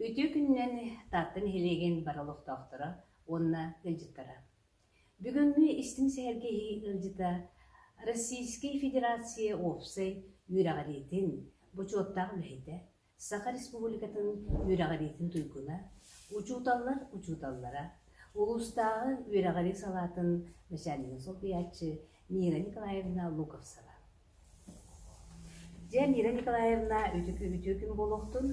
Үтүө күнүнэн Таатта нэһилиэгин бары олохтоохторо уонна ыалдьыттара. Бүгүҥҥү истиҥ сэһэргэһии ыалдьыта Российскай Федерация уопсай үөрэҕириитин бочуоттаах үлэһитэ, Саха Республикатын үөрэҕириитин туйгуна, учууталлар учууталлара, улуустааҕы үөрэҕирии салаатын начальнига солбуйааччы Мира Николаевна Луковцева. Дьэ, Мира Николаевна, үтүкү-үтүөкүн буолуохтун.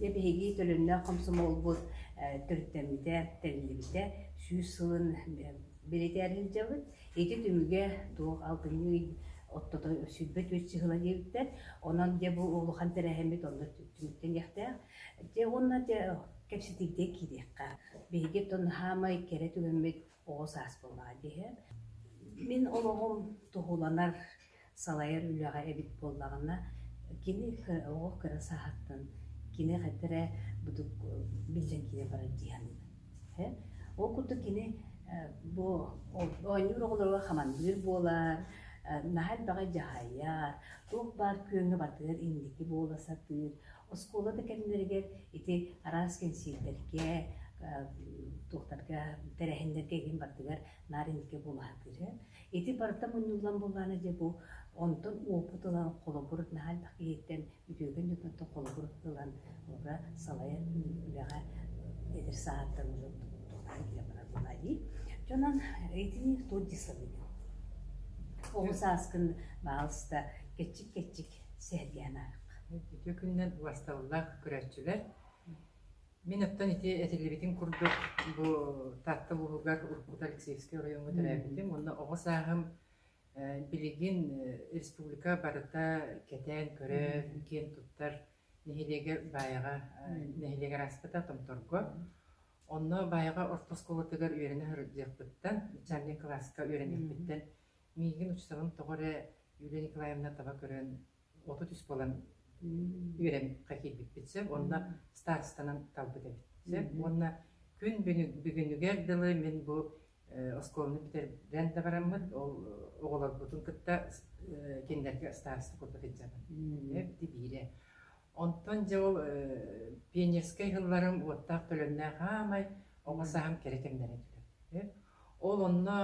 Дьэ, биһиги төлөннөөх комсомолбут э, төрүттэммитэ, тэриллибитэ сүүс сылын э, бэлэтээр сылдьабыт. Ити түмүгэ туох алтынньы ый оттото сүүрбэ түөрт сыһыла диэбиттэр. Онон дьэ бу улахан тэрээһиммит онно түмүктэниэхтээх. Дьэ уонна дьэ кэпсэтиигэ киириэххэ. Биһиги оттон хаамай кэрэ түгэммит оҕо саас буолаҕа диэһэ. Мин олоҕум туһуланар, салайар үлэҕэ эбит буоллаҕына кини оҕо кыра сааһыттан кини хайдах эрэ будук биллэн киирэ барар дии саныыбын ол курдук кини бу оонньуур оҕолоругар хамандыыр буолар наһаа элбэҕи дьаһайар туох баар күөҥҥэ батыар инники буола сатыыр оскуола да кэмнэригэр ити араас кэнсиэрдэргэ туохтарга тэрээһиннэргэ иһин бардыгар наар инники буола сатыыр Ити барыта мунньуллан буоллаҕына дьэ бу онтон уопут ылан холобур наһаа элбэх киһиттэн бүтүөкэн дьонтон холобур ылан олору салайар үлэҕэ эдэр саҕаттан уже туһунан киһи барар буолаа дии. Дьонон итини тут дисалыгын. Ол сааскын баалыста кэччик-кэччик сэргээн аарах. Үтүө күннэр басталлах көрөөччүлэр. Мин оттон ити этиллибитин курдук бу Таатта улууһугар уруккут Алексеевскай оройуоҥҥа төрөөбүтүм уонна оҕо сааһым билигин республика барыта кэтээн көрөр, киэн туттар нэһилиэгэ Баайаҕа нэһилиэгэр ааспыта Томторго. Онно Баайаҕа орто оскуолатыгар үөрэнэ сылдьыахпыттан, начальнай кылааска үөрэнэхпиттэн миигин учууталым тоҕо эрэ Юлия Николаевна таба көрөн оту түспүт ылан үөрэн хахийбиппит сөп уонна старостанан талбыт эбит сөп уонна күн бүгүнүгэр дылы мин бу оскуоланы бүтэрэн да бараммыт ол оҕолорбутун кытта кинилэргэ староста курдук сылдьабын тибиирэ онтон дьэ ол пионерскай сылларым уоттаах төлөннөөх аамай оҕо сааһым кэрэ кэмнэрэ түлэ ол онно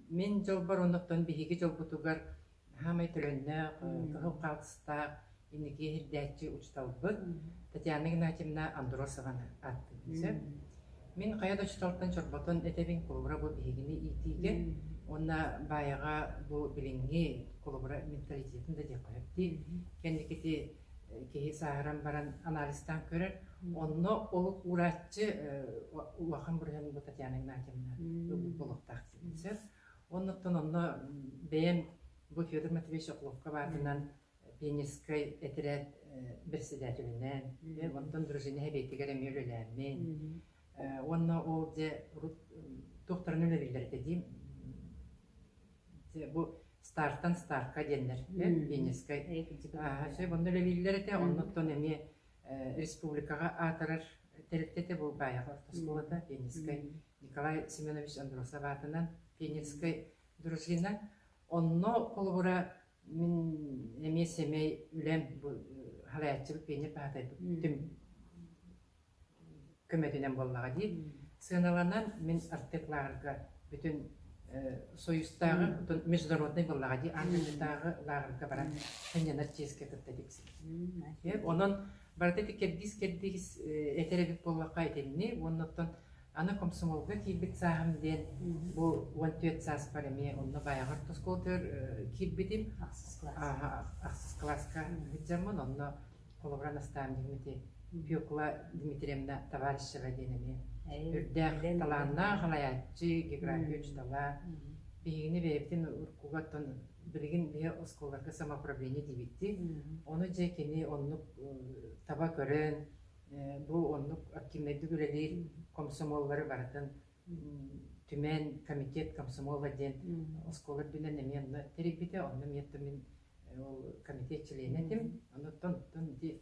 мин дьолбор оннуттан биһиги дьолбутугар саамай төлөннөөх, кыһыл хаалтыстаах инники иһирдээччи учууталбыт Татьяна Игнатьевна Андросованы ааттыыбын сөп. Мин хайа да учууталтан чорботон этэбин холобура бу биһигини иитиигэ уонна баайаҕа бу билиҥҥи холобура менталитетин да диэххэ сөп дии. Кэнникити э, киһи сааһыран баран анализтаан көрөр. Онно олук уурааччы э, улахан бырыһын бу Татьяна Игнатьевна ылбыт буолуохтаах диибин сөп. Оннуктан онно бэйэм бу Федор Матвеевич Охлопко аатынан пионерскай этэрээт председателинээн, онтон дружина эбиэтигэр эмиэ үлэлээммин, уонна ол дьэ урут туохтарын үлэлииллэр этэ дии, бу стартан стартка диэннэр пионерскай онно үлэлииллэр этэ, оннуттан эмиэ республикаҕа аатырар тэрилтэ этэ, бу Баайаҕа орто оскуолата пионерскай Николай Семенович Андросов аатынан Пенецкай дружина. Онно холобура мин эмиэ сэмэй үлэм халааччыбыт Пеня Паатайбыт түм көмөтүнэн буоллаҕа дии. Сыаналанан мин артык-лааҕырга бүтүн Союзтааҕы бүтүн международнай буоллаҕа дии аатырдааҕы лааҕырга баран санньанар чиэскэ кытта диксин. Онон Барыта кэрдиис-кэрдиис этэр эбит буоллахха итинни уонна оттон аны комсомолга киирбит сааһым диэн бу уон түөрт сааспар эмиэ онно байаҕар тоскуолатыгар киирбитим ахсыс кылааска ыһыддьаммын онно холобура Настаам Димити Пекла Дмитриевна Товарищева диэн эмиэ үрдээх талааннаах салайааччы география учитала биһигини бэйэбитин уруккуга оттон билигин биһи оскуоларга самоуправление диэбиттии, ону дьэ кини оннук таба көрөн, бу оннук активнайдык үлэлиир комсомоллары барытын Түмэн комитет комсомола диэн оскуола үрдүнэн эмиэ онно тэрийбитэ, онно эмиэ мин ол комитет чилиэнэ этим, оттон оттон ити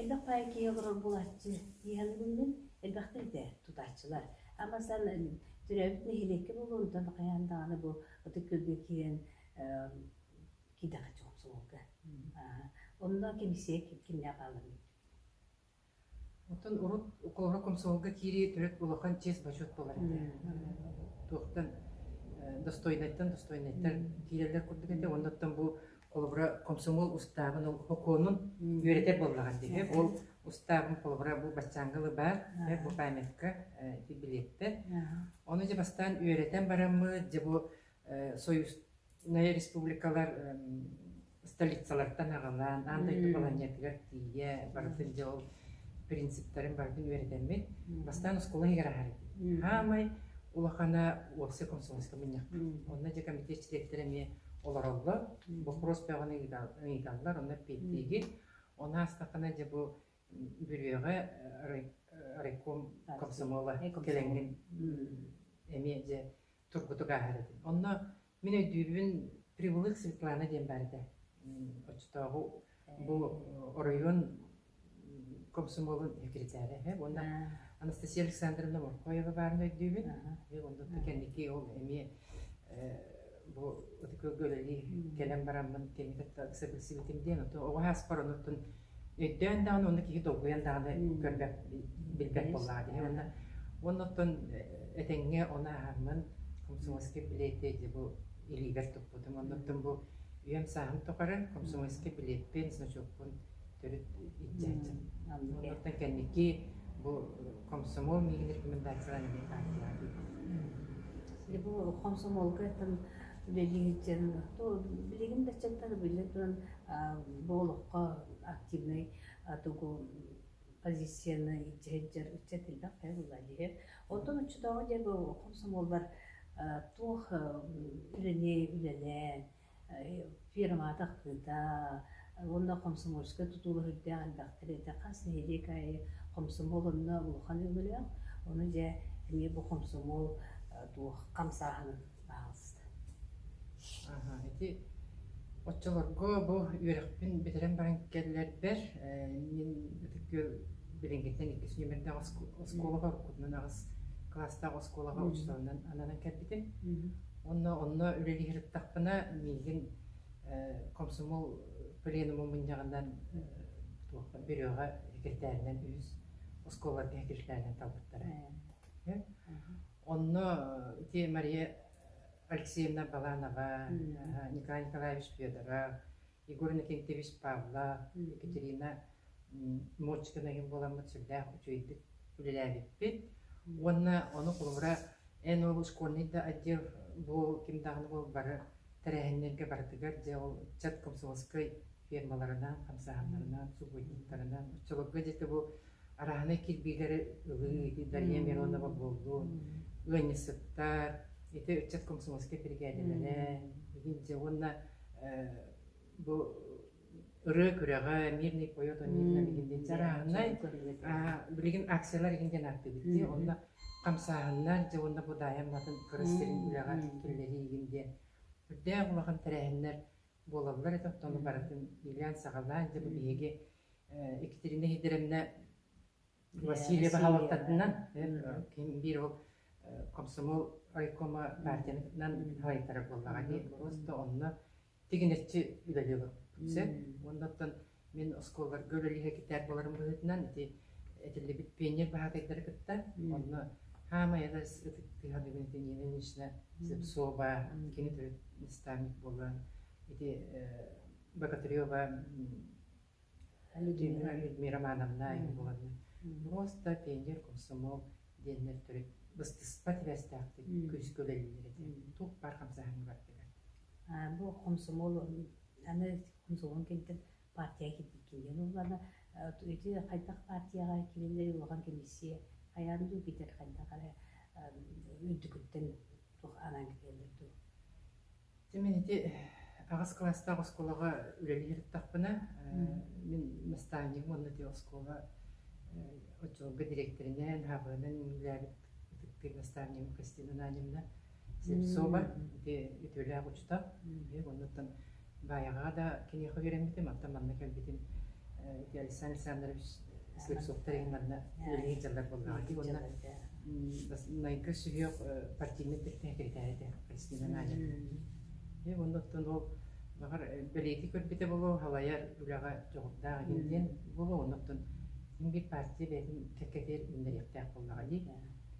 Элбэх байкига олорор булаччы иһэн гынным, элбэхтик да тутааччылар. Ама сан төрөөбүт нэһилиэккэ буолуонтан хайаан даҕаны бу ытык күөлгэ киирэн киирдэххэ чоҕумсулуурга. Онно кэмсиэ кимнээх хаалларбыт Оттон урут укуоһура комсомолга киирии төрүт улахан чиэс бочуот буолар этэ. Туохтан достойнайтан достойнайтар киирэллэр курдук этэ. Оннуттан бу холобура комсомол устаабын ол укуонун үөрэтэр буоллаҕар дии. Ол устаабын холобура бу баччаангылы баар бу памятка билиэттэ. Ону дьэ бастаан үөрэтэн бараммыт, дьэ бу союзнай республикалар столицалартан аҕалаан аан дойду балаһыанньатыгар тиийэ барытын дьэ ол принциптарын барытын үөрэтэммин бастаан оскуола иһигэр аһарым хаамай улахана уопсай консулативка мунньахпыт онно дьэ комитет чилиэттэрэ эмиэ олороллор боппуруос бөҕөнү ыйыталлар онно эппиэттиигин он аастахына дьэ бу бүрүөҕэ райком комсомола кэлэҥҥин эмиэ дьэ турбутук ааһар этим. Онно мин өйдүүрбүн Прибылых Светлана диэн баар этэ. Оччотооҕу бу оройуон комсомолун секретаря үһү. Уонна Анастасия Александровна Моркоева баарын өйдүүбүн. Онно кэнники ол эмиэ бу ытыкылга үлэлии кэлэн бараммын кэнники кытта ыкса билсибитим диэн, оҕо ааспар онуртун өйдөөн даҕаны уонна киһи долгуйан даҕаны көрбөт, билбэт буоллаҕа дии. Уонна оннуттан этэҥҥэ оны аһаммын комсомольский билетти бу илиибэр туппутум. Оннуттан бу үйэм сааһым тухары комсомольский билетпин, значокпун төрүт иччээччим. Оннуттан кэнники бу комсомол миигин рекомендацияларын эмиэ таартыйаҕа киирдим. Бу комсомолга там үлэлиир дьон, то билигин да чаттар биллэ туран бу олоххо активнай тугу позицияны илдьэ сылдьар ыччат элбэх хайа буолла диһэр. Оттон оччотооҕу диэки хомсомуоллар туох үлэни үлэлээн фирмата ахтыыта уонна комсомольскай тутууга сылдьар элбэхтэр этэ хас нэһилиэк аайы комсомол онно улахан өҥөлөөх. Ону дьэ эмиэ бу комсомол туох хамсааһынын Ити оччолорго бу үөрэхпин бүтэрэн баран кэллэрбэр мин билиҥҥиттэн иккис нүөмэрдээх оскуолаҕа уруккутунан аҕыс кылаастаах оскуолаҕа учууталынан ананан кэлбитим. Онно онно үлэлиир аттахпына миигин комсомол пленумун мунньаҕынан Бөрүөҕэ секретарынан үһүс оскуолаларга секретарынан талбыттара. Онно ити Мария Алексеевна Баланова, Николай Николаевич Федоров, Егор Никентьевич Павлов, Екатерина Модчикина иһин буоламмыт сүрдээх үчүгэйдик үлэлээбиппит. Уонна ону холобура эн ол школьный да отдел бу ким даҕаны буол бары тэрээһиннэргэ барытыгар дьэ ол ыччат комсомольскай фермаларынан, хамсааһыннарынан, субботниктарынан, оччолорго дьэ бу арааһынай кирбиилэри ылыы Дария Миронова буоллун, ыанньысыттар, ити ыччат комсомольскай биригээдэлэрэ, дьэ уонна бу ырыа күрэҕэ мирный поет он мирно деген диэн арааһынай билигин акциялар игин диэн ааттыыбыт онно хамсааһыннар дьэ уонна бу даайам атын кыра сирин үлэҕэр киллэрии игин диэн үрдээх улахан тэрээһиннэр буолаллар этэ, оттон барытын иилээн-саҕалаан, дьэ бу биһиги Екатерина Сидоровна Васильева салалтатынан, ким биир ол комсомол райкома партиятынан салайтарар буоллаҕа дии, просто онно тигинэччи үлэлиэ сөп. Уонна оттон Мин оскуолаларга үлэлиһэ китээр буоларым быһыытынан ити этиллибит пионер баһаатайдары кытта онно хаамай адас ытык тыһаныгын итини нынешна Зепсова кини төрүт наставник буолан ити Богатырева Людмила Романовна ин буоланна муоста пионер комсомол диэннэр төрүт быстыспат иväстээхтик күскө үлэлиир этэ тух бар хамсаһыны бардыгар бу комсомол аны мусулман кимтэн партияҕа киирдиин уулана ити хайдах партияҕа киириллэри улахан комиссия хайаан дуу китэр хайдах эрэ үрдүкүттэн туох анаан кэллэр дуу Мен ити аҕыс кылаастаах оскуолаҕа үлэлии ырыттахпына мин наставнигым уонна ити оскуола оччолорго дириэктэринэн, хаабырынан үлэлээбит ытыктыыр наставнигым Кристина Ананьевна Сепсоба үтүөлээх учута уонуттан Баайаҕаҕа да киниэхэ үөрэммитим, оттон манна кэлбитим ити Александр Александрович Слепцовтар иһин манна үлэлиир дьаллар буоллаҕа дии уонна Найга сүһүөх партийнай сэкирэтээрэ этэ Кристина Надя. Оннуттан ол баҕар бэлиэти көрбүтэ болуо халайар үлэҕэ дьоҕурдаах иһин диэн болуо оннуттан ким биир партия бэйэтин кэккэтигэр үүннэриэхтээх буоллаҕа дии.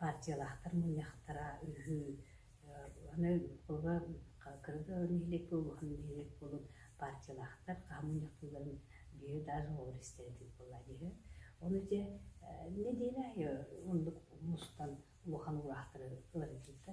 партиялаахтар мунньахтара үһү, аны була кыргы нэһилиэк буолуоһун нэһилиэк буолун партиялаахтар хаһан мунньахтыыларын биир даже оҕолор истэр этибит буоллаҕа дии. Ону дьэ нэдиэлэ аайы оннук мустан улахан уураахтары ыларыгыт да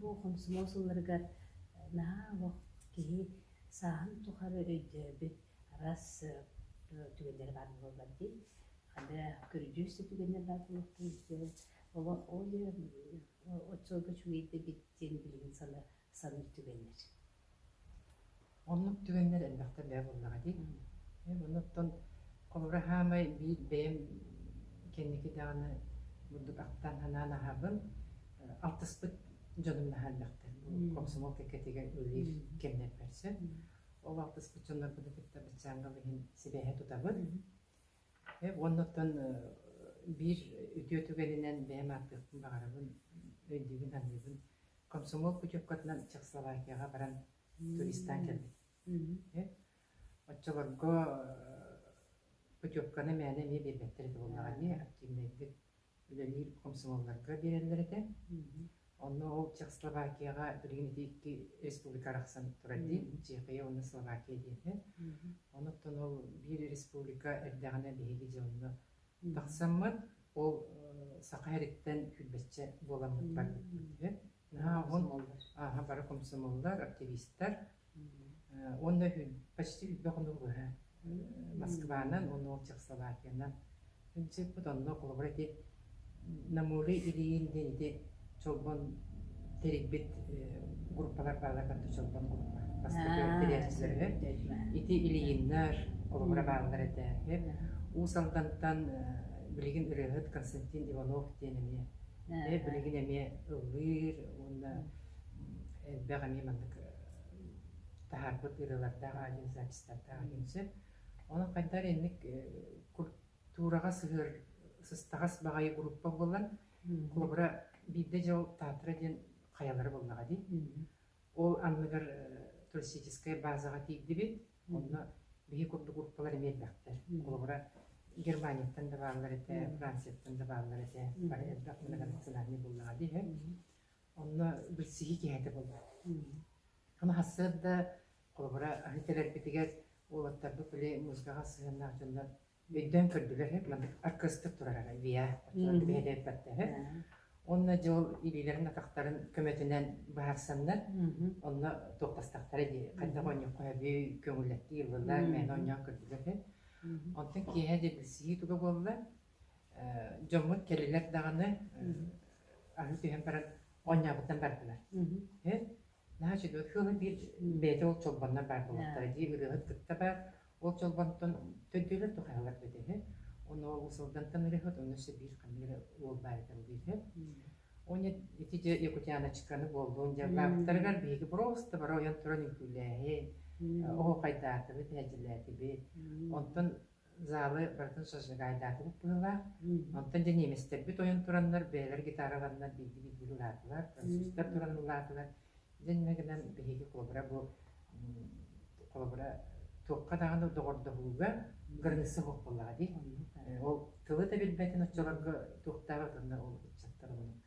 Бу хомсомуол сылларыгар наһаа олох киһи сааһын тухары өйдөөбүт араас түгэннэрэ баар буоллар дии. Анда көрүдьүөс түгэннэр баар буолуохтун диэн олох ол отчуолга үчүгэй да эбит диэн билигин саныыр түгэннэр. Оннук түгэннэр элбэхтэн бэйэ буоллаҕа дии. Эн аны оттон холобура саамай биир бэйэм кэнники даҕаны бурдук ахтан санаан аһаабын алтыспыт дьонум наһаа элбэхтэр. Комсомол кэккэтигэр үлэлиир кэмнэрбэр сөп. Ол алтыспыт дьоннорбутун кытта быччаангал иһин сибээһи тутабыт. Э, уонна оттон э, биир үтүө түгэнинэн бэйэм ааттыахпын баҕарабын, өйдүүбүн-саныыбын Комсомол путевкатынан Чехословакияҕа баран туристаан кэлбит. Оччолорго путевканы мээнэ эмиэ биэрбэттэр этэ буоллаҕа ини активнайдык үлэлиир комсомолларга биэрэллэр этэ. Онно ол Чехословакияҕа билигин ити икки республика арахсан турар дии, Чехия уонна Словакия диэхэ. Онуттан ол биир республика эрдэҕинэ биһиги дьэ онно Тахсаммыт, ол саха иһэриттэн килбэччэ буоламмыт барбыппыт үһү. Наһаа уһун, ааһа бара комсомоллар, активистар. Уонна почти үрбэ хонук быһа Москванан уонна ол Чехословакиянан сыппыт, онно холобура ити Намылы илиин диэн ити Чолбон тэрийбит группалар баалар кытта Чолбон группа. Бастакы тэрийээччилэр үһү. Ити Ильиннэр, олоҕура бааллар этэ үһү. Уус Алдантан билигин ырыаһыт Константин Иванов диэн эмиэ билигин эмиэ ыллыыр уонна элбэх эмиэ маннык таһаарбыт ырыалардаах аудиозаписьтардаах один сөп. Онон хайдах инник Туураҕа сыһыар сыстаҕас баҕайы группа буолан, куобура биирдэ дьыл Таатра диэн хайалара буоллаҕа дии. Ол анныгар туристическай баазаҕа тиийдибит. Онно биһи курдук группалар эмиэрбэхтэр. Холобура, Германияттан да бааллар этэ, Францияттан да бааллар этэ. Бары элбэх мындах национальнай буоллаҕа дии үһү. Онно билсиһии киэһэтэ буолла. Ама, сарсыарда Холобура, аһы кэлэрбитигэр уолаттарбыт били музыкаҕа сыһыаннаах дьоннор өйдөөн көрдүлэр, маннык аркыастык турара, VR бэһэлээн баттаһы. Онно дьэ ол илиилэрин атахтарын көмөтүнэн быһаарсаннар, онно туохтастахтара дии, хайдах оонньуохха сөбүй, көҥүллэттии ыллылар, мээнэ оонньоон көрдүлэр үһү. Онтон киэһэ да билсиһии туга буолла, дьоммут кэлилэр даҕаны аһы түһэн баран оонньообуттан бардылар. наһаа үчүгэй ыал биир бэйэтэ ол чолбоннор баар буолуохтара дии ырыаһыт кытта баар ол чолбонтон төрдүөлэр туһаналар да үһү ону улуус Алдантан ырыаһыт онно өссө биир ханна эрэ уол баар этэ ол үһү оне ити дьэ якутяночканы буоллун дьаллаабыттарыгар биһиги просто бары ойон туран үҥкүүлээһин оһуохайдаатыбыт эһэлдьилээтибит онтон Залы барытын содвигайдаатыбыт быһылаах. Оттон дьэ ньиэмэстэрбит ойон тураннар, бэйэлэр гитараларынан биирдии биирдиилин ылаатылар, транзистор туран ылаатылар. Дьэ иннэ гынан биһиги холобура бу холобура туохха даҕаны доҕордоһууга кырыҥсы оһох буоллаҕа дии. Ол тылы да билбэтин оччолорго туохтаах атынна ол ыччаттар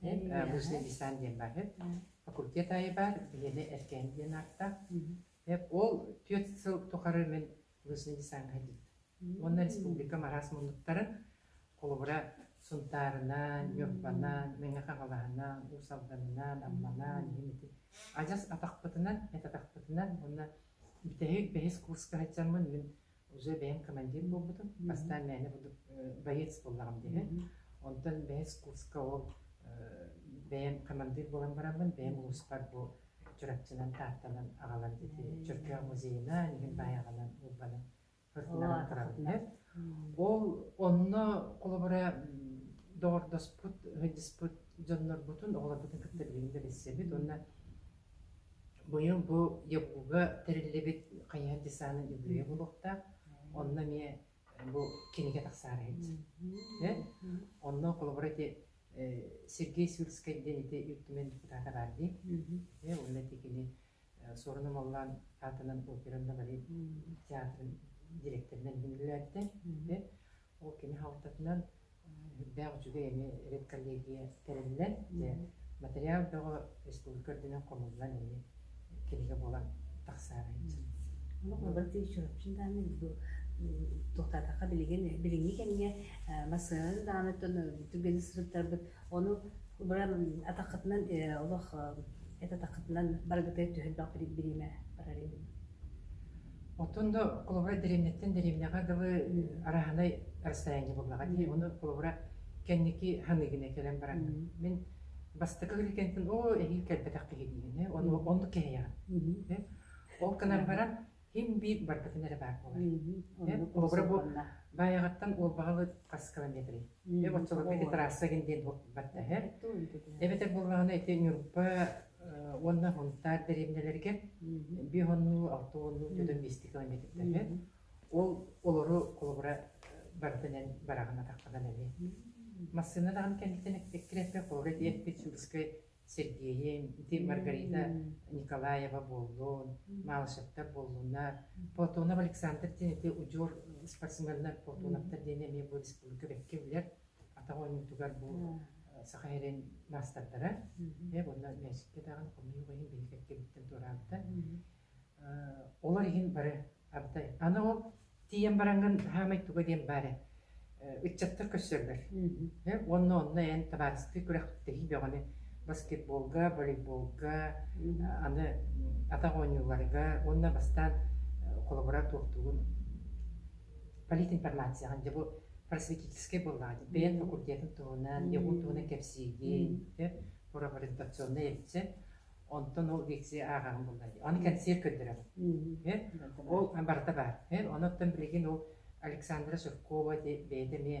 Мужный десант диэн баһыт факультет аайы баар, биһиэнэ Эркээн диэн ааттаах. Ол түөрт сыл тухары мин мужный десаҥҥа дьиттим. Уонна республикам араас муннуктарын холобура Сунтаарынан, Ньурбанан, Мэҥэ Хаҥалаһынан, Уус Алданынан, Амманан иһин ити адьас атахпытынан, эт атахпытынан уонна бүтэһик бэһис курска сылдьаммын мин уже бэйэм командир буолбутум. Бастаан мээнэ буду боец буоллаҕым үһү. Онтон бэһис курска ол бэйэм командир буолан бараммын, бэйэм улууспар бу Чурапчынан, Тааттанан аҕалан ити Чөркөөх музейынан, иһин баайаҕынан уурбанан фортунанан турабын үһү. Ол онно холобура доҕордоспут, ыһыдьыспыт дьоннорбутун, оҕолорбутун кытта билиҥҥи да билсэбит уонна Быйыл бу ЕГУ-га тэриллибит хайыһар десанын үбүлүйэ буолуохтаах. Онно эмиэ бу кинигэ тахсаары иһит. Онно холобура ити Сергей Сюрскай диэн ити Ил Түмэн депутата баар дии. Уонна ити кини Суорун Омоллоон аатынан операнна-балет театрын директорынан иһиллээбитэ. Ол кини халтатынан үрдээх үчүгэйэни редколлегия тэриллэн, дьэ материал бөҕө республика үрдүнэн хомуллан иһи кинигэ буолан тахсаары сылдьар. Баты еще вообще дааны туохтаатахха билигин билиҥҥи кэмҥэ массыынаны дааныттан түргэнник сырыттарбыт ону быран атаххытынан олох это атаххытынан барыгытыгар түһэрбэх бириимэ барар Оттон да клубра дэриэбинэттэн дэриэбинэҕэ дылы араһынай расстояние буоллаҕа дии. Ону клубра кэнники ханыыгына кэлэн бараҥҥын. Мин бастакы кэлгэнтэн оо эһиил кэлбэтэх киһи диэни ону оннук кэһэйэҕин. Э? Ол гынан баран ким-биир барбытын эрэ баар буолар. Э? Клубра бу Баайаҕаттан Уолбаҕалы хас километрый. Э, оччолорго эти трасса гин диэн барда эһэ. Эбэтэр буоллаҕына ити Ньурба уонна хонтаар дэриэбинэлэригэр биир хоннуу, алта уоннуу, төтөн биэсти километрдэргэ. Ол олору холобура барытынан бараҕын атаххынан эми. Массыына даҕаны кэнниттэн эккирэппит, холобура диэппит Сюрскай Сергеин, ити Маргарита Николаева буоллун, Малышевтар буоллунна, Платонов Александр диэн ити удьуор спортсменнар, Платоновтар диэн эмиэ бу республика бэккэ билэр атах ойуутугар бу саха сирин маастардара. Э, онно мээсиккэ даҕан хомуйуох иһин биһиги эккэбиттэн туораабыта. Олор иһин бары ардай. Аны ол тиийэн бараҥҥын хаамай туга диэн баара ыччаттар көрсөллөр. Онно онно эн табаарыстыы күрэхтэһии бөҕөнү баскетболга, волейболга, аны атах оонньууларга уонна бастаан холобура туохтуугун политинформацияҕа дьэ бу просветительскай буоллаҕа дии бэйэм факультетым туһунан ЕГУ туһунан кэпсиигин сөп провокационнай эбитсэ онтон ол лекция ааҕаҕын булла дии аны кэнсиэр көрдөрөҕүн ол барыта баар оттон билигин ол Александра Суркова бэйэтэ эмиэ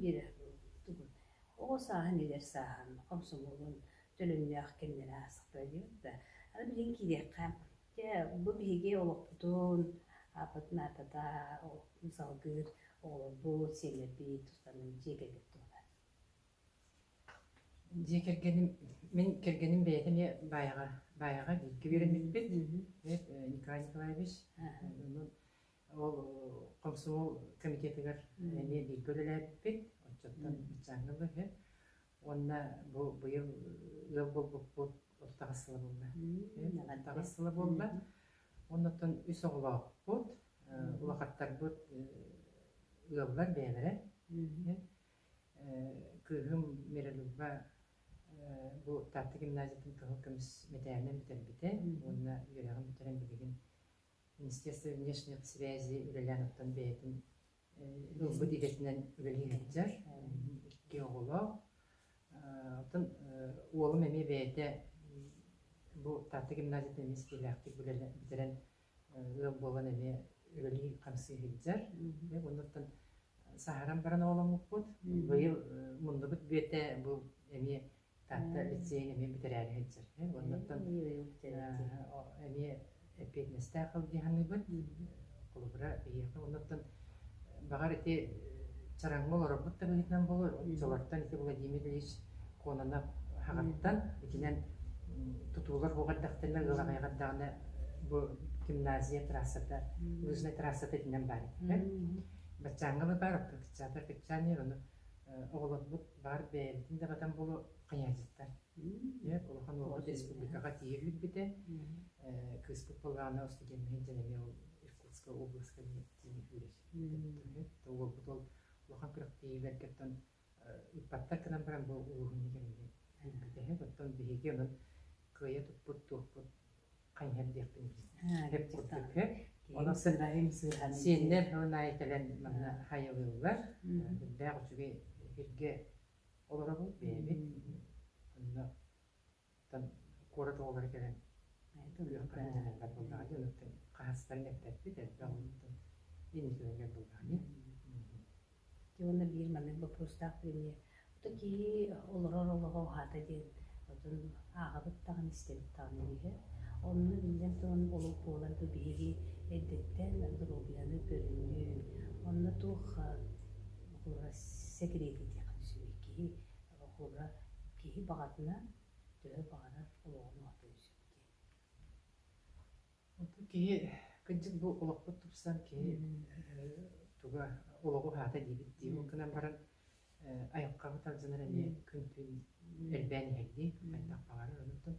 Биэрэрбин тугун, оҕо сааһын эдэр сааһын хомсомуолун төлөннөөх кэмнэрэ аасыкпыта диэбит да, аны билигин киириэххэ. Дьэ, бу биһиги олохпутун, ааппытын аатата салгыыр оҕолорбут, сиэннэрбит тустарынан дьиэ кэргэн туһунан. Дьиэ кэргэним, мин кэргэним бэйэтэ эмиэ баайаҕа, баайаҕа бииргэ үөрэммиппит. Эбээт, э, Николай Николаевич. Аха. Онон Ол Комсомол комитетыгар эмиэ бииргэ үлэлээбиппит, оччоттон ыччааҥҥа быһыы. Уонна бу быйыл ыал буолбуппут отут аҕыс сыла буолла. Отут аҕыс сыла буолла. Оннуттан үс оҕолоохпут, улахаттарбыт ыаллар бэйэлэрэ. Кыыһым Миралюба бу Таатта гимназиятын кыһыл көмүс мэтээлинэн бүтэрбитэ уонна үөрэҕин бүтэрэн билигин Министерство внешних связей үлэлээриттэн бэйэтин ылбыт идэтинэн үлэлии сылдьар. Икки оҕолоох. Атын уолум эмиэ бэйэтэ бу Таатта гимназиятын эмиэ испиилээхтик бүтэрэн ыал буолан эмиэ үлэлии-хамсыы сылдьар. Оннуттан сааһыран баран оҕоломмуппут. Быйыл муннубут бүөтэ бу эмиэ Таатта лицейын эмиэ бүтэрээри сылдьар. Оннуттан эмиэ эппиэтинэстээх халдьаһыныыбыт холобура биһиэхэ оннуттан баҕар ити чараҥҥа олорорбут да быһыытынан буолар олортон ити Владимир Ильич Кононов хаҕаттан итинэн тутуулар буох эрдэхтэринэ ыалаҕайҕардаҕына бу гимназия трассата лыжная трассата итинэн баар этилэр баччааҥҥа баар кырчаата кырчаанер ону оҕолорбут баар бэйэбитин даҕатан буолу хайаачыттар Ийэбит улахан уолбут республикаҕа тиийэ үүрбүтэ кыыспыт Былаана устудьуоннуһан дьэн эмиэ ол Иркутска областка тиийэ үүрэр уолбут ол улахан күрэхтэһиилэргиттэн ыыппаттар гынан баран бу улууһун кэмигэр үүрбүтэһэ оттон биһиги онон кыайа туппут туохпут хайыһардыахпын кэппиккэ олох сыграһым сыыһан сиэннэр ол аайы кэлэн манна хайылыыллар үрдээх үчүгэй эфиргэ олоробут бэйэбит онно куорат оҕолоро кэлэн өлүөххэ буоллаҕа дьонуттан хаһыстарын эппэппит элбэх оннуттан инникилэргэр буоллаҕа Ити уонна биир маннык боппуруостаах премьер «Ото киһи олорор олоҕо уһаата» диэн отон ааҕабыт даҕаны, истэбит даҕаны үөһэ. Онно биллэн туран олук буолар бу биһиги эрдэттэн доруобуйаны көрүнүү, онно туох букуура сэкирэтий диэххэ сөбүй? Киһи букуура киһи баҕатынан, төһө баҕарар олоҕун уһатыан сөп диэн. Киһи, кырдьык бу олохпут тупсан киһи э, туга олоҕу уһаата диибит дии. Ол гынан баран э, айылҕаҕа тардынар эмиэ күн-түүн элбээн иһэрдии, хайдах баҕарар онтон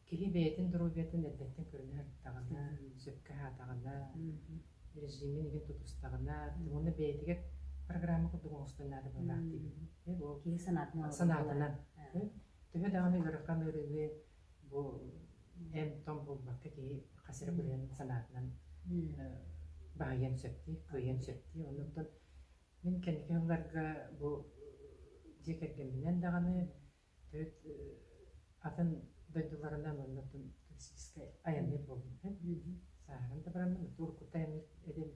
киһи бэйэтин доруобуйатын эрдэттэн көрүнэ арыттаҕына, сөпкө аһаатаҕына, режимин игин тутустаҕына, уонна бэйэтигэр программа курдук оҥостон наадабылаах диибит. Киһи санаатынан. Санаатынан. Төһө даҕаны ыарахан ыарыы бу эн том булбакка киһи хас эрэ бырыһан санаатынан баһыйан сөптүү, кыайан сөптүү. Оннуктан мин кэнники сылларга бу дьиэ кэргэмминэн даҕаны төрүт атын дойдуларынан оннуктан туристическай айанныыр буолбутум. Сааһыран да бараммын, тур кутта айанныыр эдим.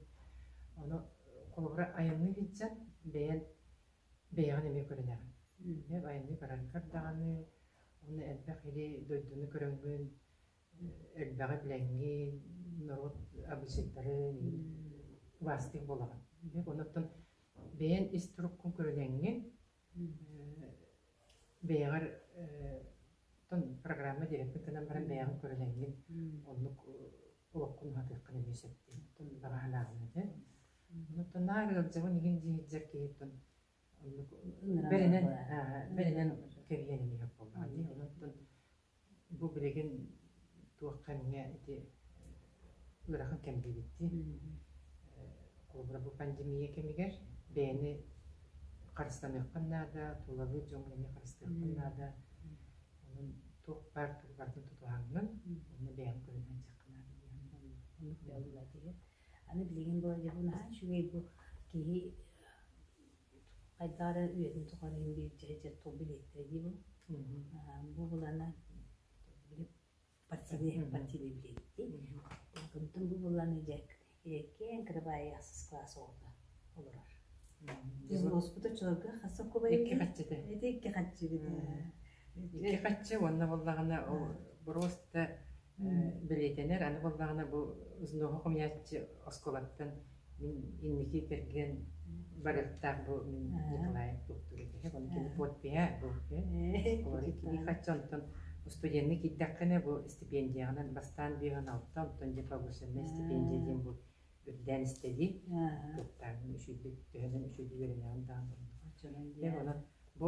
Ону холобура айанныы сылдьан бэйэн бэйэҕин эмиэ көрүнэ. Мин айанныы баран көрдөҕүнэ уонна элбэх или дойдуну көрөҥҥүн, элбэҕи билэҥҥин, норуот абыйсыттарын квастик буолаҕын. Дьэ онуттан бэйэн ис туруккун көрүнэҥҥин, бэйэҕэр оттон программа диэбиккин гынан баран бэйэҕин көрүнэҥҥин оннук олоххун уһатыаххын эмиэ сөптөөх баҕаһынааҕын этэ. Тынаар ыалдьабын иһин дьиһиддьэр киһитин оннук бэринэн бэринэн кэрийэн иһэр буоллаҕа дии онон бу билигин туохха эмиэ ити ыарахан кэм диэбиттии холобура бу пандемия кэмигэр бэйэни харыстаныаххын наада тулалыыр дьоҥҥо эмиэ харыстыаххын наада онон туох баар тугу барытын тутуһаҥҥын уонна бэйэҥ көрүнэн дьиэххэ наада диэххин Аны билигин бу дьоһун аһаан үчүгэй бу киһи хайдах эрэ үйэтин тухары индиэддьэ тугу билиэттэрэ дии бу бу булана били партийны партийны билиэттии онтон бу буланы дьэ киэҥ кырабаайы ахсыс кылаас оҕото олорор дьон уоспута чуорга хасса кубайы икки хаччыты ити икки хаччыгыт Ити хаччы уонна буоллаҕына брос да бэлиэтэнэр, аны буоллаҕына бу Знохо комьяччи оскуолаттан мин инники кэргэн барыахтаах бу мин Николай Туктук этиһэ, ону кини подпиһэ буолуо. Олору кини хаччы онтон устудьуонна киирдэххинэ бу стипендиянан бастаан биһон алта, онтон дипломационная стипендия диэн бу үрдээн истэди, кыттаан үшүйдү, төһөнөн үшүйдү үөрэнэҕин даҕан турунуха. Онон бу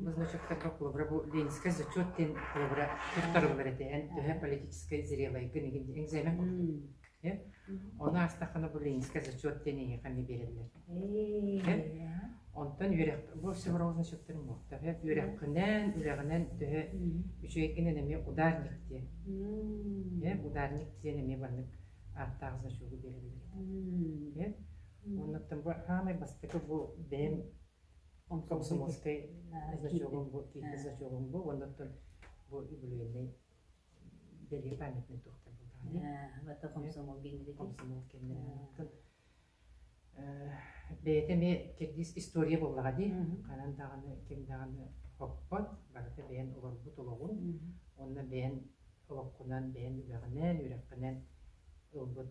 Назвачиктарга холобура бу Ленинскай зачет диэн холобура туттарыллар этэ эн төһө политическай зрелайгын игин экзамен курдук оны аастаххана бу Ленинскай зачет диэн эйиэхэ эмиэ биэрэллэр онтон үөрэх бу все равно зачеттарын буолта үөрэххинэн үлэҕинэн төһө үчүгэйгинэн эмиэ ударник диэн ударник диэн эмиэ баннык ааттаах значогу биэрэллэр этэ Оннуттан бу хаамай бастакы бу бэйэм Он комсомольскай значогун бу киһи значогун бу уоннаттан бу үбүлүөннэй бэлиэ памятный тухтар булдаҕына вата комсомол генеритин комсомол кэмнэрэ бэйэтэ эмиэ кирдис история буоллаҕа дии ханан даҕаны ким даҕаны хоппот барыта бэйэн олорбут олоҕун онно бэйэн олоххунан бэйэн үгэҕинэн үрэххинэн ылбыт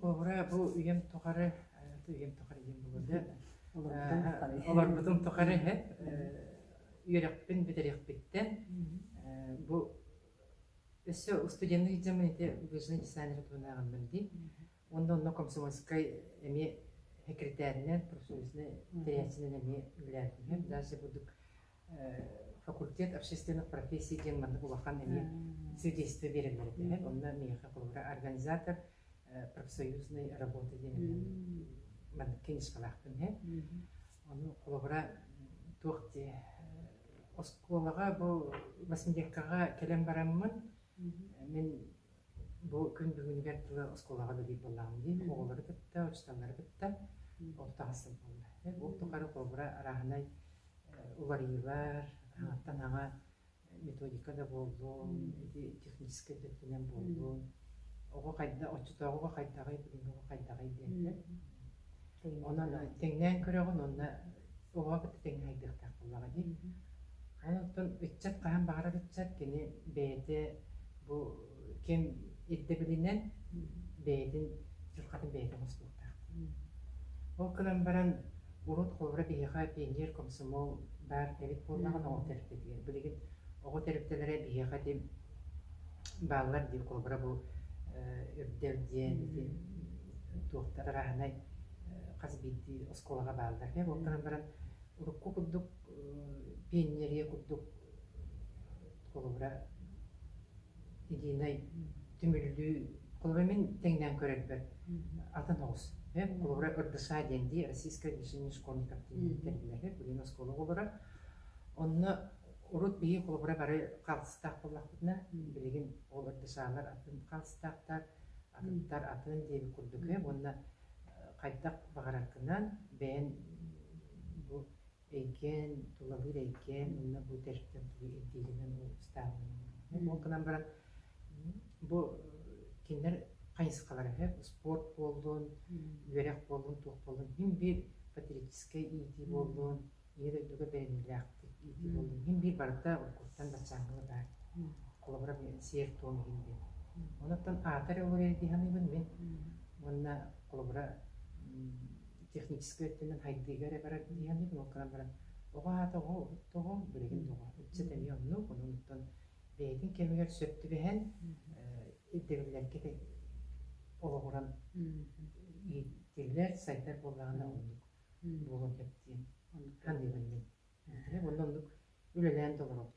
Куобура бу үйэм тухары үйэм тухары диэн буолуо олорбутум тухары үөрэхпин бүтэриэхпиттэн бу өссө устуденный дьамын ити быжны десанера туһунааҕын билди онно онно комсомольскай эмиэ секретаринэн профсоюзнай тэрээччинэн эмиэ үлэлээтим даже бурдук факультет общественных профессий диэн маннык улахан эмиэ судейство биэрэллэр этилэр. Онно миэхэ холобура организатор профсоюзной работа диэн маннык кеңесхалаахпын иһэ. Ону холобура туох дии оскуолаҕа бу массмедиакаҕа кэлэн бараммын мин бу күн бүгүнүгэр тыла оскуолаҕа да биир буоллаҕым дии оҕолору кытта учууталлары кытта орто ахсын буолла. Ол тухары холобура арааһынай уларыйыылар, аҥаттан аҕа методика да буоллун, ити техническэй да өттүнэн буоллун, оҕо хайдах, оччотооҕуга хайдаҕый, бүгүҥҥү оҕо хайдаҕый диэхтэр. Онон тэҥнээн көрөҕүн уонна оҕоҕо кытта тэҥнэһэрдиэхтээх буоллаҕа дии. Аны оттон ыччат хаһан баҕарар ыччат кини бэйэтэ бу ким ирдэбилинэн бэйэтин дьылҕатын бэйэтэ оҥостуохтаах. Ол гынан баран урут холобура биһиэхэ пионер комсомол баар тэрит буоллаҕына ол тэрилтэтигэр билигин оҕо тэрилтэлэрэ биһиэхэ дим бааллар диир холобура бу үрдэл диэн ити туохтар араһынай хас биирдии оскуолаҕа бааллар. Ол гынан баран урукку курдук пионерия курдук холобура единай түмүллүү холобура мин тэҥнээн көрөрбөр атын оҕус холобура ырдыша диэн дии российская движение школьников диэн тэрилэһэ билигин оскуола оҕолоро онно урут биһи холобура бары хаалтыстаах буоллахпытына билигин ол ырдышаалар атын хаалтыстаахтар атыттар атын диэбит курдук уонна хайдах баҕараргынан бэйэн бу Эйгээн, тулалыыр эйгээн уонна бу тэрилтэ тугу ирдииринэн ыстаабынан. Ол гынан баран бу кинилэр хайысхалара сөп спорт буоллун, үөрэх буоллун, туох буоллун иһин биир патриотическай иитии буоллун, ийэ дойдуга бэриниилээхтик иитии буоллун иһин биир барыта уруккуттан баччааҥҥыга баар. Холобура сиэр-туом иһин диэн. Онуттан аата эрэ ол эрэ дии саныыбын мин. Уонна холобура техническай өттүнэн хайдыыга эрэ баран иһэммит муҥканан баран оҕо аата оҕо тоҕо билигин тоҕо ыччат эмиэ оннук ононуттан бэйэтин кэмигэр сөп түбэһэн ирдэбиллэн кэтэн олоҕуран ииттиллэр сайдар буоллаҕына оннук буолуон сөп диэн ханныыбын мин онно оннук үлэлээн толоробут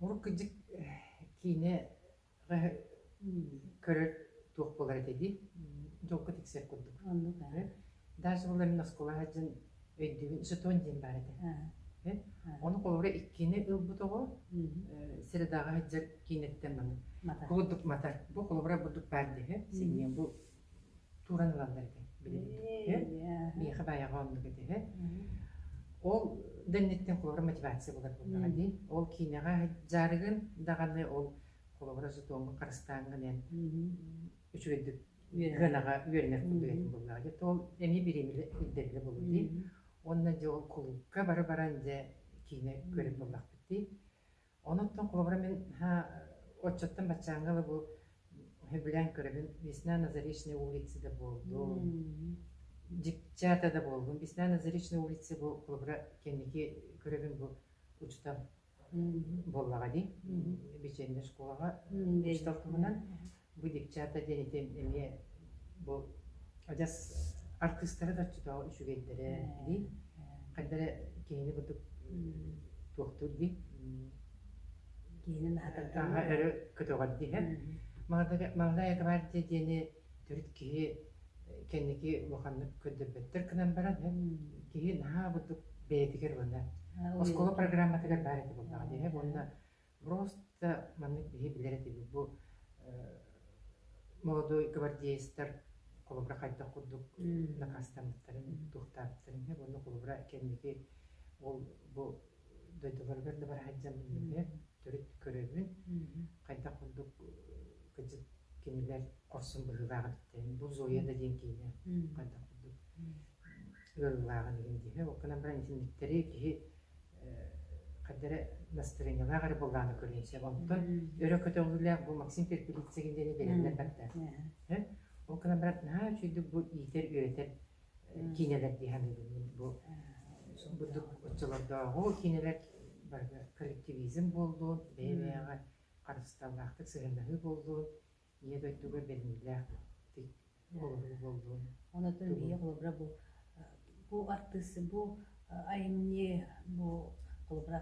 Уруккудьук киинэ көрөр туох буолар этэй дии долго тиксэр курдук даже ол эмиэ оскуола сылдьан өйдүүбүн сутуон диэн баар этэ ону холобура иккиэнэ ылбыт оҕо средаҕа сылдьар киинэттэн маны курдук матар бу холобура бурдук баар диэһэ синиэн бу тууран ылаллар этэ билигин миэхэ баайаҕа оннук этэ ол да инниттэн холобура мотивация булар буоллаҕа дии ол киинэҕэ дьаарыгын даҕаны ол холобура сутуоҥҥа харыстааҥҥын эн үчүгэйдик ыанаҕа үөрэнэр курдук этим буоллаҕа дии ол эмиэ бириэмилэ ирдэбилэ буолуо дии онно дьэ ол кулуупка бары баран дьэ киинэ көрөр буоллахпыт дии Онуттан холобура мин оччоттон баччааҥҥа да бу билэн көрөбүн Весна на Заречной улице да буолдун дьипчээтэ да буоллун Весна на Заречной улице бу холобура кэнники көрөбүн бу учута буоллаҕа дии беченья школаҕа учуутал туһунан Бу девчата диэнитин эмиэ бу адьас артыыстара да оччотооҕу үчүгэйдэрэ дии. Хайдара киһини бурдук туохтуур дии? Киһинин аһатарга. Өрө көтөҕөр диһэ. Молодая гвардия диэни төрүт киһи кэнники улаханнык көрдөрбөттөр гынан баран киһи наһаа бурдук бэйэтигэр уонна оскуола программатыгар баар этэ буоллаҕа диһэ. Уонна Просто маннык биһи билэр этибит бу молодой гвардеецтар холобура хайдах курдук накаастаммыттарын, туохтаабыттарын иһэ уонна холобура кэнники ол бу дойдуларыгар да бара сылдьан билбитэ төрүт көрөбүн хайдах курдук кыдьык кинилэр хорсун быһыылаах эбиттэрин бу Зоя да диэн киинэ хайдах курдук ыарыылааҕын иһин дии. Ол гынан баран итинниктэри киһи хайда эрэ настроениялаах эрэ буоллаҕына көрүөн сөп. Оттон өрө көтөҕүүлээх бу Максим Перепелицын диэни билэллэр баттаа. Ол гынан баран наһаа үчүгэйдик бу иитэр-үөрэтэр киинэлэр дии саныыбын бу бурдук оччолордооҕу киинэлэр барыта коллективизм буоллун, бэйэ-бэйэҕэ харысталлаахтык сыһыаннаһыы буоллун, Ийэ дойдуга бэлиэлээх оҕолору буоллун. Онотон ийэ холобура бу бу артыыс бу айымньы бу холобура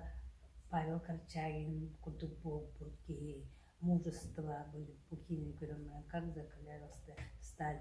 Павел Корчагин курдук буолбут киһи мужество бу киинин көрөн баран как закрывалась ты сталь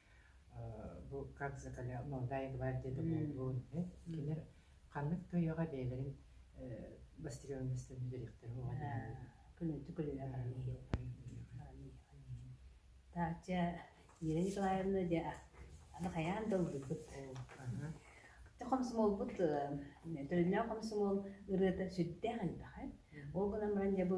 бу как закаля молодая гвардия документуун кинилэр ханнык тойоҕо бэйэлэрин бастырыалынастарын бүтэриэхтэрэ оҕо күнүтү таача Ира Николаевна де аны хайаан да ылбыппыт те хомсомолбут төлөннөөх хомсомол ырыата сүрдээх элбэхэ ол гынан баран дьэ бу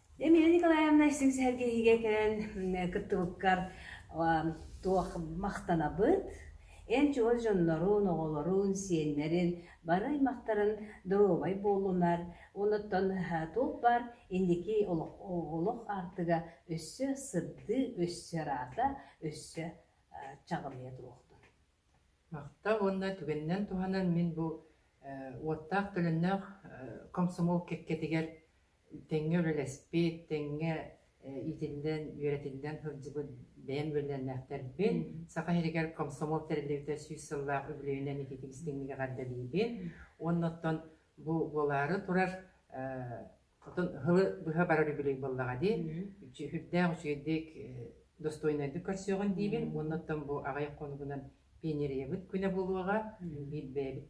Эмилия Николаевна истиҥ сэһэргэһиигэ кэлэн кыттыбыккар туох махтанабыт, эн чугас дьоннорун, оҕолорун, сиэннэрин бары аймактарын доруобай буолунар уонуттан туох баар инники олох аартыга өссө сырдыы, өссө ыраата, өссө чаҕылыйа туруохтун. Махтал уонна түгэнинэн туһанан мин бу уоттаах төлөннөөх комсомол кэккэтигэр тэҥҥэ үлэлэспит, тэҥҥэ итиннэн, үөрэтиннэн сылдьыбыт бэйэм үөрэннээхтэрбин. Саха сиригэр комсомол тэриллибитэ сүүс сыллаах үбүлүөйүнэн ититик истиҥник эҕэрдэлиибин. Уонна оттон бу буолаары турар хотон ыһылы быһа барар үбүлүөй буоллаҕа дии. Сүрдээх үчүгэйдик, достойнойдук көрсүөҕүн диибин. Уонна оттон бу аҕай хонугунан пионерыйабыт күнэ буолуоҕа. Биир бэйэбит